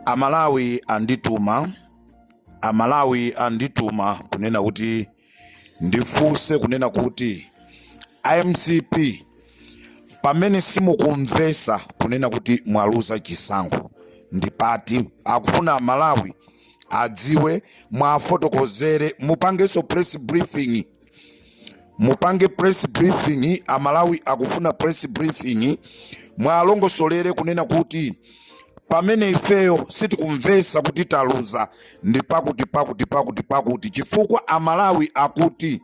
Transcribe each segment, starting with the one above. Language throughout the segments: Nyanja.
amalawi andituma amalawi andituma kunena kuti ndifunse kunena kuti a mcp pamene simukumvesa kunena kuti mwaluza chisankho ndi pati akufuna amalawi adziwe mwafotokozere mupangenso press briefing mupange press briefing amalawi akufuna press briefing mwalongosolere kunena kuti pamene ifeyo sitikumvesa kuti taluza ndi pakuti pakuti pakuti pakuti chifukwa amalawi akuti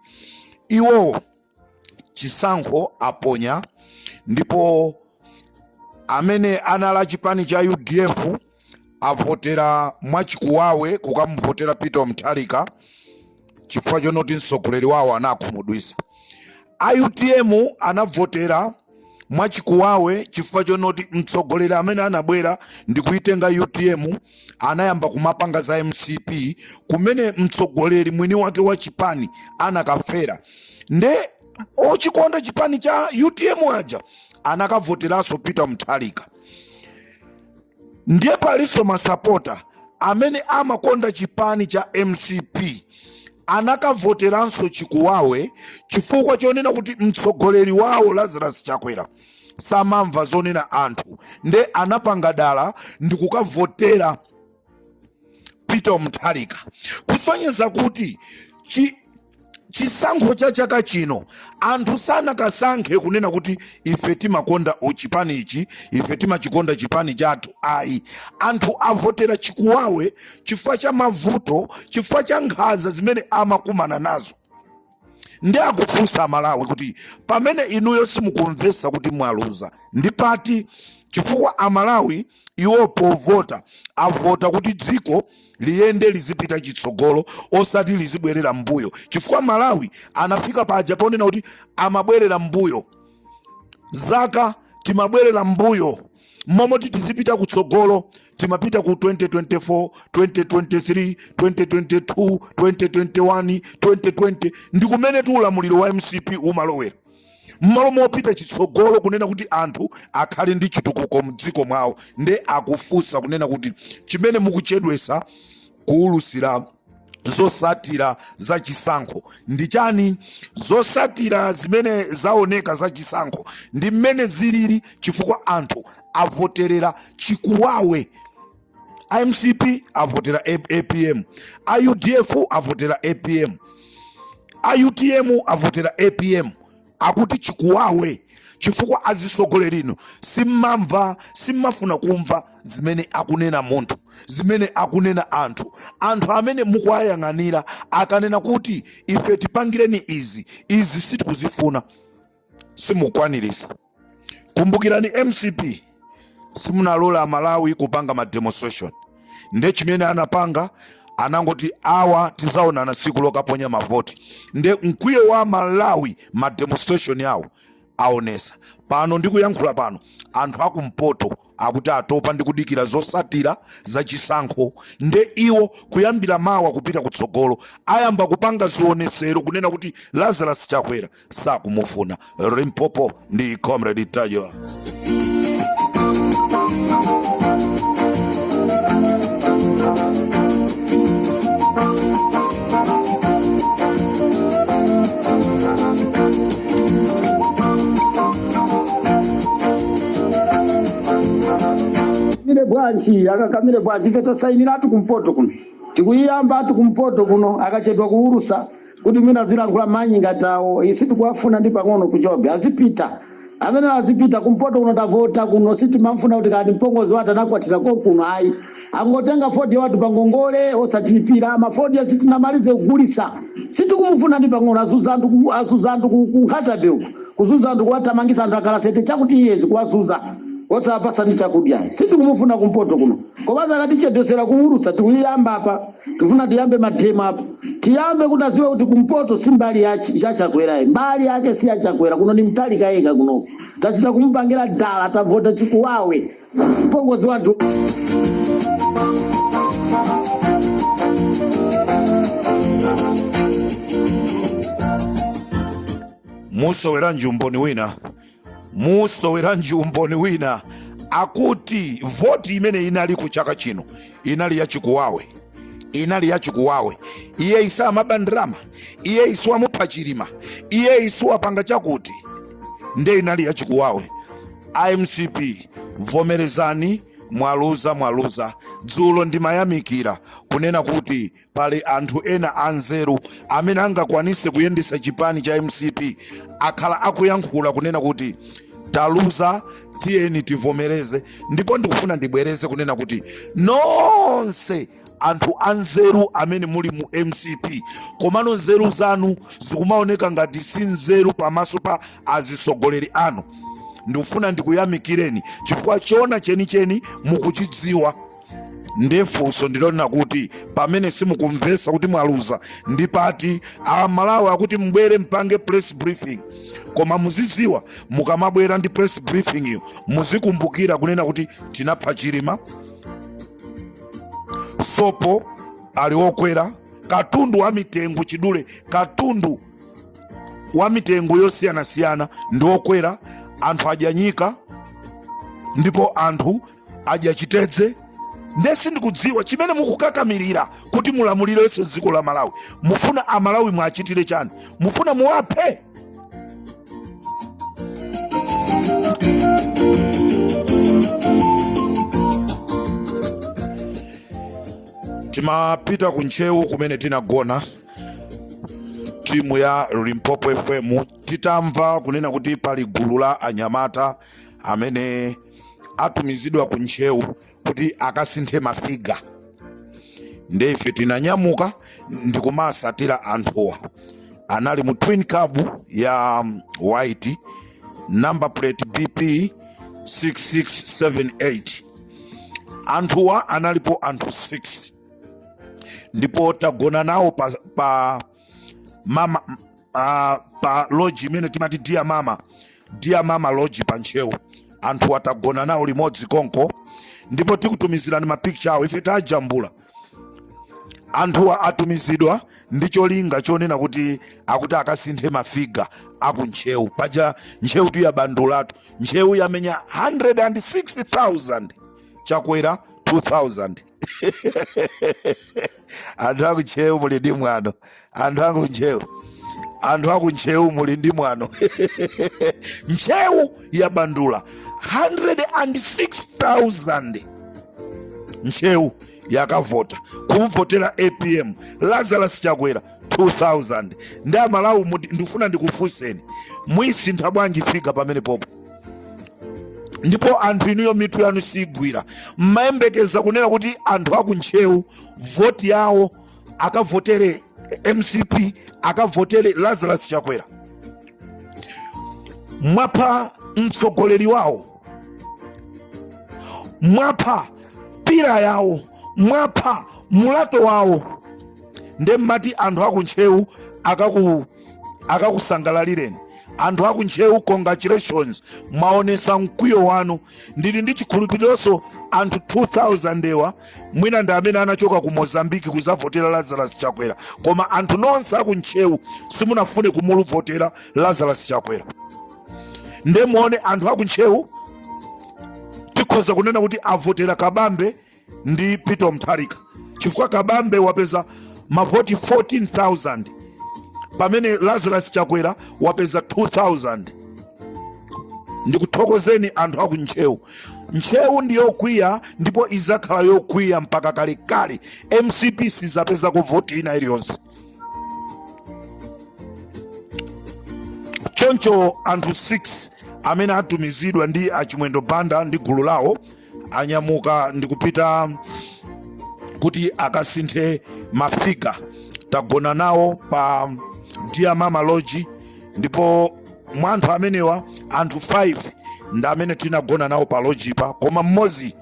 iwo chisankho aponya ndipo amene anali a chipani cha udf avotera mwachikuwawe kukamuvotera peter mutharika chifukwa chonoti mtsogoleri wawo anawakhumudwisa a utm anavotera mwachikuwawe chifukwa chonoti mtsogoleri amene anabwera ndi kuitenga utm anayamba kumapanga za mcp kumene mtsogoleri mwini wake wa chipani anakafera nde ochikonda chipani cha utm aja anakavoteranso peter mutharika ndiye palinso masapota amene amakonda chipani cha mcp anakavoteranso chikuwawe chifukwa chonena kuti mtsogoleri wawo lazarus chakwera samamva zonena anthu nde anapanga dala ndi kukavotera peter mutharika kusonyeza kuti chi, chisankho cha chaka chino anthu sanakasankhe kunena kuti ife timakonda chipani ichi ife timachikonda chipani chathu ayi anthu avotera chikuwawe chifukwa cha mavuto chifukwa cha nkhaza zimene amakumana nazo nde akufunsa amalawi kuti pamene inuyo simukumvesa kuti mwaluza ndi pati chifukwa amalawi iwo povota avota kuti dziko liyende lizipita chitsogolo osati lizibwerera mbuyo chifukwa malawi anafika paja ponena kuti amabwerera mbuyo zaka timabwerera mbuyo momoti tizipita kutsogolo timapita ku 2024 2023 2022 2021 2020 ndi kumene tu ulamuliro wa mcp umalowera mmalo mopita chitsogolo kunena kuti anthu akhale ndi chitukuko mdziko mwawo nde akufunsa kunena kuti chimene mukuchedwesa kuulusira zosatira za chisankho ndi chani zosatira zimene zaoneka za chisankho ndi mmene zilili chifukwa anthu avoterera chikuwawe a mcp avotera A- apm a udf avotera apm a utm avotera apm akuti chikuwawe chifukwa azisogoleri inu simmamva simmafuna kumva zimene akunena munthu zimene akunena anthu anthu amene mukuwayang'anira akanena kuti ife tipangireni izi izi sitikuzifuna simukwanirisa kumbukirani mcp simunalola amalawi kupanga ma demonstration nde chimene anapanga anangoti awa tizaonana siku lokaponya mavoti nde mkwiyo wa malawi ma demonstration awo aonesa pano ndikuyankhula pano anthu akumpoto Akuti atopa ndi kudikira zosatira za chisankho nde iwo kuyambira mawa kupita kutsogolo ayamba kupanga zionesero kunena kuti Lazarus Chakwera sakumufuna. Limpopo ndi Comrade Tayo. kamire bwanji akakamire bwanji ife tasainira ati kumpoto kuno tikuyiyamba ati kumpoto kuno akachedwa kuwulusa kuti mwina zilankhula manyi ngati awo sitikuwafuna ndi pang'ono kuchobe azipita amene azipita kumpoto kuno tavota kuno sitimamfuna kuti kani mpongozi wati anakwatira konkuno ayi angotenga fodya wathu pangongole osatilipira ma fodya sitinamalize kugulisa sitikumufuna ndi pang'ono azuza anthu ku- azuza anthu ku- ku nkhata bay uku kuzuza anthu kuwatamangisa anthu akala 30 chakuti years kuwazuza osawapasa ndi chakudya sitikumufuna kumpoto kuno komanso akatichedwesera kuwulusa tikuyiyamba apa tifuna tiyambe mademo apo tiyambe kuti aziwe kuti kumpoto si mbali ya Ch- ya chakwera ayi mbali yake si ya chakwera kuno ni mutharika yeka kuno tachita kumupangira dala tavota chikuwawe mpongozi wathu musoweranji umboni wina musoweranji umboni wina akuti voti imene inaliko chaka chino inali yachikuwawe inali yachikuwawe iye isiwa amaba ndalama iye isiwa amupha chilima iye isiwa apanga chakuti nde inali yachikuwawe amcp vomerezani mwaluza mwaluza dzulo ndimayamikira kunena kuti pali anthu ena anzeru amene angakwanise kuyendesa chipani cha mcp akhala akuyankhula kunena kuti taluza tiyeni tivomereze ndipo ndikufuna ndibwereze kunena kuti nonse anthu anzeru amene muli mu mcp komano nzeru zanu zikumaoneka ngati si nzeru pamaso pa azisogoleri anu ndikufuna ndikuyamikireni chifukwa chona chenicheni mukuchidziwa ndiye funso ndilonena kuti pamene simukumvesa kuti mwaluza ndi pati amalawi akuti mubwere mpange press briefing koma muziziwa mukamabwera ndi press briefing iyo muzikumbukira kunena kuti tinapha chilima sopo ali okwera katundu wa mitengo chidule katundu wa mitengo yosiyanasiyana ndi okwera anthu adya nyika ndipo anthu adya chitedze nde sindikudziwa chimene mukukakamirira kuti mulamulirenso dziko la malawi mufuna amalawi muwachitire chani mufuna muwaphe timapita ku ntcheu kumene tinagona timu ya limpopo fm titamva kunena kuti pali gulu la anyamata amene atumizidwa ku ntcheu kuti akasinthe mafiga nde ife tinanyamuka ndikumawatsatira anthuwa anali mu twin cab ya um, white number plate bp 6678 anthuwa analipo anthu 6 ndipo tagona nawo pa, pa mama uh, pa lodge imene timati dear mama dear mama lodge pa ntcheu anthuwa tagona nawo limodzi konko ndipo tikutumizirani mapicture awo ife tajambula anthuwa atumizidwa ndi cholinga chonena kuti akuti akasinthe mafiga aku ntcheu paja ntcheu tu yabandulatu ntcheu yamenya 106000 chakwera 2000 anthu akuntcheu muli ndi mwano anthu akuntcheu anthu akuntcheu muli ndi mwano ntcheu yabandula 106000 ntcheu yakavota kumvotera apm lazarus chakwera 2000 nde amalawi muti- ndikufuna ndikufunseni muyisintha bwanji figa pamenepopo ndipo anthu inuyo mitu yanu sigwira mmayembekeza kunena kuti anthu akuntcheu voti yawo akavotere mcp akavotere lazarus chakwera mwapha mtsogoleri wawo mwapha pillar yawo mwapha muloto wawo nde mmati anthu akuntcheu akaku akakusangalalireni anthu aku ntcheu congratulations mwaonesa mkwiyo wanu ndili ndi chikhulupirironso anthu 2000 ewa mwina ndi amene anachoka ku mozambiki kuzavotera lazarus chakwera koma anthu nonse aku ntcheu simunafune kumuvotera lazarus chakwera nde muone anthu aku ntcheu tikhoza kunena kuti avotera kabambe ndi Peter Mutharika chifukwa Kabambe wapeza mavoti 14000 pamene Lazarus Chakwera wapeza 2000 ndikuthokozeni anthu aku Ntcheu. Ntcheu ndi yokwiya ndipo izakhala yokwiya mpaka kalekale. MCP sizapezako voti ina iliyonse. choncho anthu 6 amene atumizidwa ndi achimwendo banda ndi gulu lawo anyamuka ndi kupita kuti akasinthe mafiga tagona nawo pa dear mama lodge ndipo mwa anthu amenewa anthu 5 ndi amene tinagona nawo pa lojipa koma mmodzi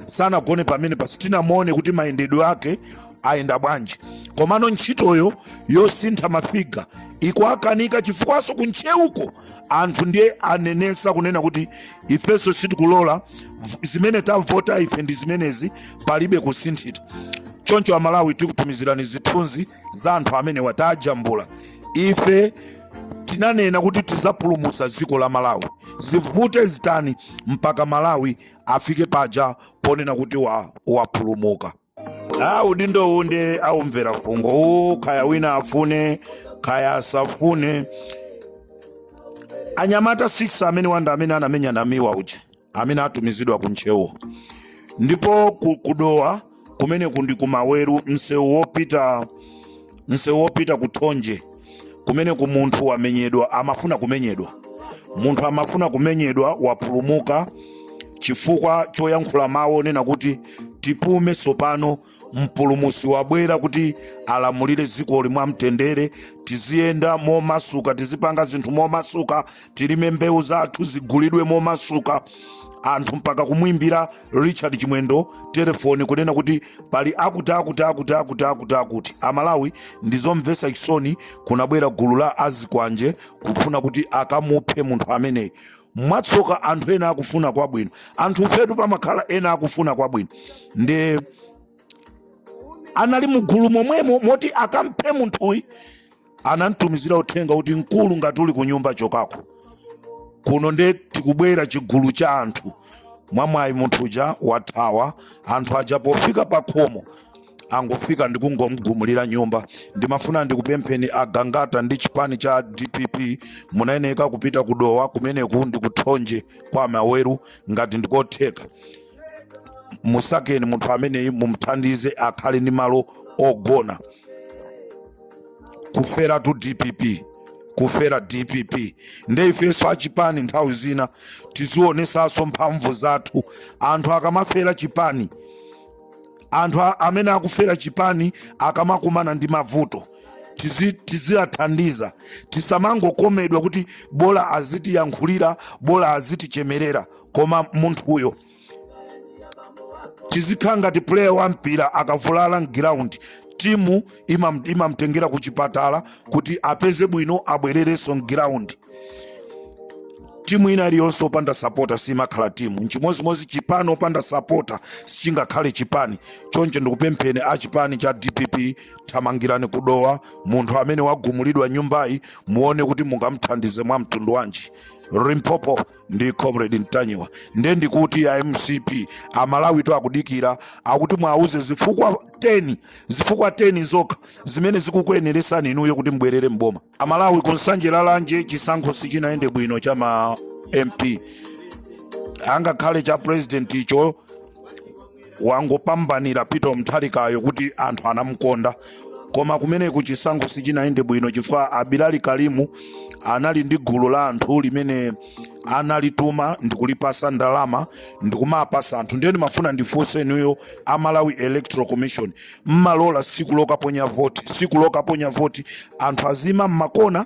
sanagone pamenepa sitinamuone kuti mayendedwe ake ayenda bwanji komano ntchitoyo yosintha mafiga ikuakanika chifukwaso kuntcheuko anthu ndiye anenesa kunena kuti ifeso sitikulola v- zimene tavota ife ndi zimenezi palibe kusintha choncho amalawi tikutumizirani zithunzi za anthu amene tawajambula ife tinanena kuti tizapulumusa dziko la malawi zivute zitani mpaka malawi afike paja ponena kuti wa- wapulumuka udindowu nde aumvera fungo uwu kaya wina afune kaya asafune anyamata 6 amene wanda amene anamenya namiwa uja amene atumizidwa ku ntcheuwo ndipo ku- ku dowa kumeneku ndi ku maweru msewu wopita msewu wopita ku thonje kumeneku munthu wamenyedwa amafuna kumenyedwa munthu amafuna kumenyedwa wapulumuka chifukwa choyankhula mawu onena kuti tipume tsopano mpulumusi wabwera kuti alamulire dzikoli mwa mtendere tiziyenda momasuka tizipanga zinthu momasuka tilime mbewu zathu zigulidwe momasuka anthu mpaka kumwimbira richard chimwendo telefoni kunena kuti pali akuti akuti akuti akuti akuti akuti amalawi ndizomvesa chisoni kunabwera gulu la azikwanje kufuna kuti akamuphe munthu ameneyi mwatsoka anthu ena akufuna kwabwino anthu fetu pamakhala ena akufuna kwabwino nde anali mugulu momwemo moti akamphe munthuyi anamtumizira uthenga kuti mkulu ngati uli kunyumba chokako kuno nde tikubwera chigulu cha anthu mwamwayi munthu uja wathawa anthu aja pofika pa khomo angofika ndikungomgumulira nyumba ndimafuna ndikupempheni agangata ndi chipani cha dpp munayeneka kupita kudowa kumeneku ndikuthonje kwa amaweru ngati ndikotheka musakeni munthu ameneyi mumthandize akhale ndi malo ogona kuferatu dpp kufera dpp nde ifenso achipani nthawi zina tizionesanso mphamvu zathu anthu akamafera chipani anthu a- amene akufera chipani akamakumana ndi mavuto tizi- tiziwathandiza tisamangokomedwa kuti bola azitiyankhulira bola azitichemerera koma munthuyo tizikhala ngati player wa mpira akavulala mgiraundi timu imam- imamtengera ku chipatala kuti apeze bwino abwererenso mgiraundi timu ina iliyonse opanda sapota simakhala timu nchimodzimodzi chipani opanda sapota sichingakhale chipani choncho ndikupempheni a chipani cha dpp thamangirani kudowa munthu amene wagumulidwa nyumbayi muone kuti mungamthandize mwa mtundu wanji limpopo ndi comrade mtanyiwa nde ndikuti a mcp amalawitu akudikira kuti muwauze zifukwa 10 zifukwa 10 zokha zimene zikukuyeneresani inuyo kuti mbwerere mboma amalawi kunsanje lalanje chisankho sichinayende bwino cha ma mp angakhale cha president icho wangopambanira Peter Mutharikayo kuti anthu anamukonda koma kumeneko chisankho sichinayende bwino chifukwa Abilali Kalimu anali ndi gulu la anthu limene analituma ndikulipasa ndalama ndikumapasa anthu ndiye ndimafuna ndifunse inuyo a Malawi Electoral Commission mmalola siku lokaponya voti siku lokaponya voti anthu azima mmakona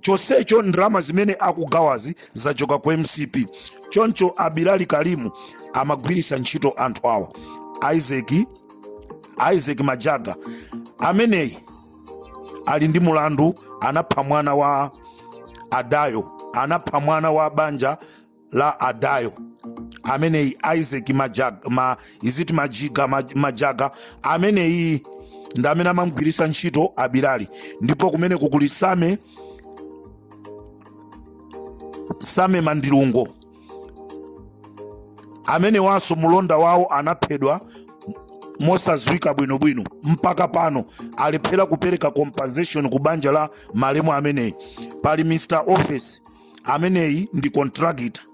chonsecho ndalama zimene akugawazi zachoka ku mcp choncho abilali kalimu amagwiritsa ntchito anthu awa isaac majaga ameneyi ali ndi mulandu anapha mwana wa adayo anapha mwana wa banja la adayo ameneyi isaac izi aji majaga ameneyi ndi amene amamgwiritsa ntchito abilali ndipo kumene kukuli sam same mandilungo amenewanso mulonda wawo anaphedwa mosadziwika bwinobwino mpaka pano alephera kupereka compensation ku banja la malemu ameneyi pali mr office ameneyi ndi contractor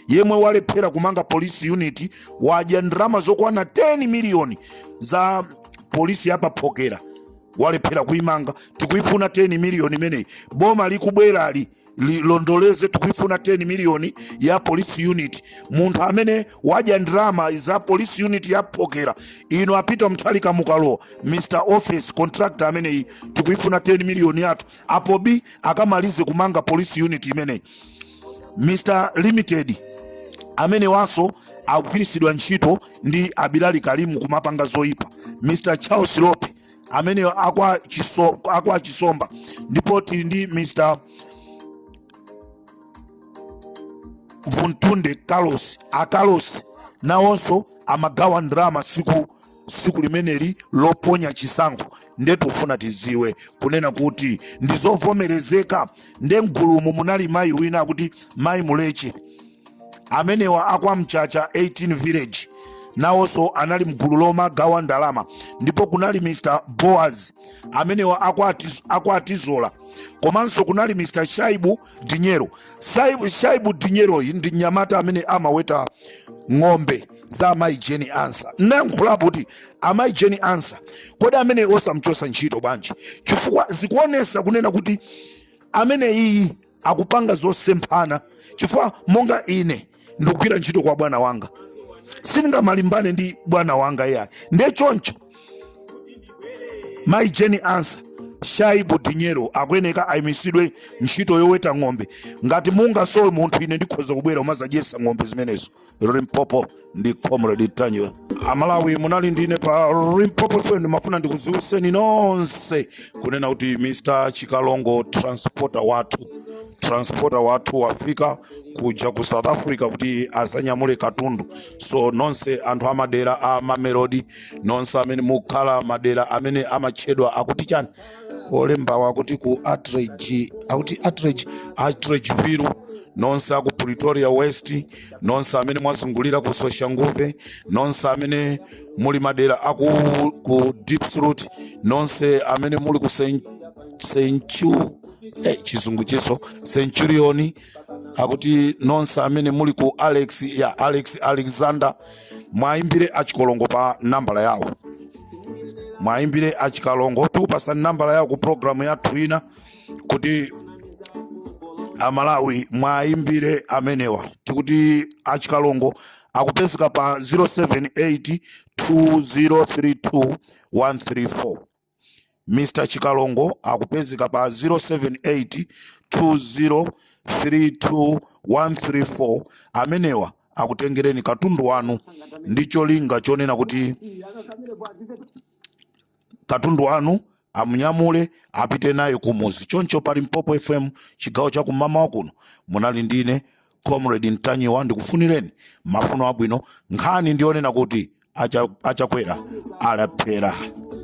yemwe walephera kumanga police unit wadya ndalama zokwana 10 miliyoni za polisi yapaphokera walephera kuimanga tikuifuna 10 miliyoni imeneyi boma likubwerali lilondoleze tikuifuna 10 miliyoni ya police unit munthu amene wadya ndalama za police unit yaphokera ino apita mtalika mukalowa mr office contractor ameneyi tikuifuna 10 miliyoni yathu apo b akamalize kumanga police unit imeneyi mr limited amenewanso akugwiritsidwa ntchito ndi abilali kalimu kumapanga zoyipa mr charles lope amene akwa chisomba ndipo tili ndi mr vuntunde carlos a carlos nawonso amagawa ndalama siku siku limeneli loponya chisankho nde tufuna tidziwe kunena kuti ndizovomerezeka nde mgulumu munali mayi wina akuti mayi muleche amenewa akwamchacha 18 village nawonso anali mgulu lomagawa ndalama ndipo kunali mr boaz amenewa akwatizola komanso kunali mr shaibu dinyero shaibu dinyeroyi ndi mnyamata amene amaweta ng'ombe za amayi jane ansah nayankhulapo kuti amayi jane ansah kodi amene osamchosa ntchito bwanji chifukwa zikuonesa kunena kuti ameneyi akupanga zosemphana chifukwa monga ine ndikugwira ntchito kwa bwana wanga sindingamalimbane ndi bwana wanga iyayi ndiye choncho mayi jane ansah shaibu dinyero akuyeneka ayimitsidwe ntchito yoweta ng'ombe ngati mungasowe munthu ine ndikhoza kubwera umazadyesa ng'ombe zimenezo limpopo ndi comrade ntanyiwa amalawi munali ndine pa limpopo fm ndimafuna ndikuziwiseni nonse kunena kuti mr chikalongo transporter wathu transporter wathu wafika kuja ku south africa kuti azanyamule katundu so nonse anthu amadera a mamelodi nonse amene mukhala madera amene amatchedwa akuti chani olembawa akuti ku akuti atteridge atteridgeville nonse aku pretoria west nonse amene mwazungulira ku soshanguve nonse amene muli madera aku ku diepsloot nonse amene muli ku centu hey, chizungu chiso centurion akuti nonse amene muli ku alex ya alex alexander mwayimbire achikalongo pa nambala yawo mwayimbire achikalongo tikupasani nambala yawo ku programu yathu ina kuti amalawi mwayimbire amenewa tikuti achikalongo akupezeka pa 078 2032 134 Mr Chikalongo akupezeka pa 078 2032134 amenewa akutengereni katundu wanu ndi cholinga chonena kuti katundu wanu amunyamule apite naye kumuzi choncho pa Limpopo fm chigawo cha kummawa kuno munali ndine comrade Ntanyiwa ndikufunireni mafuno abwino nkhani ndiyonena kuti acha- achakwera alephera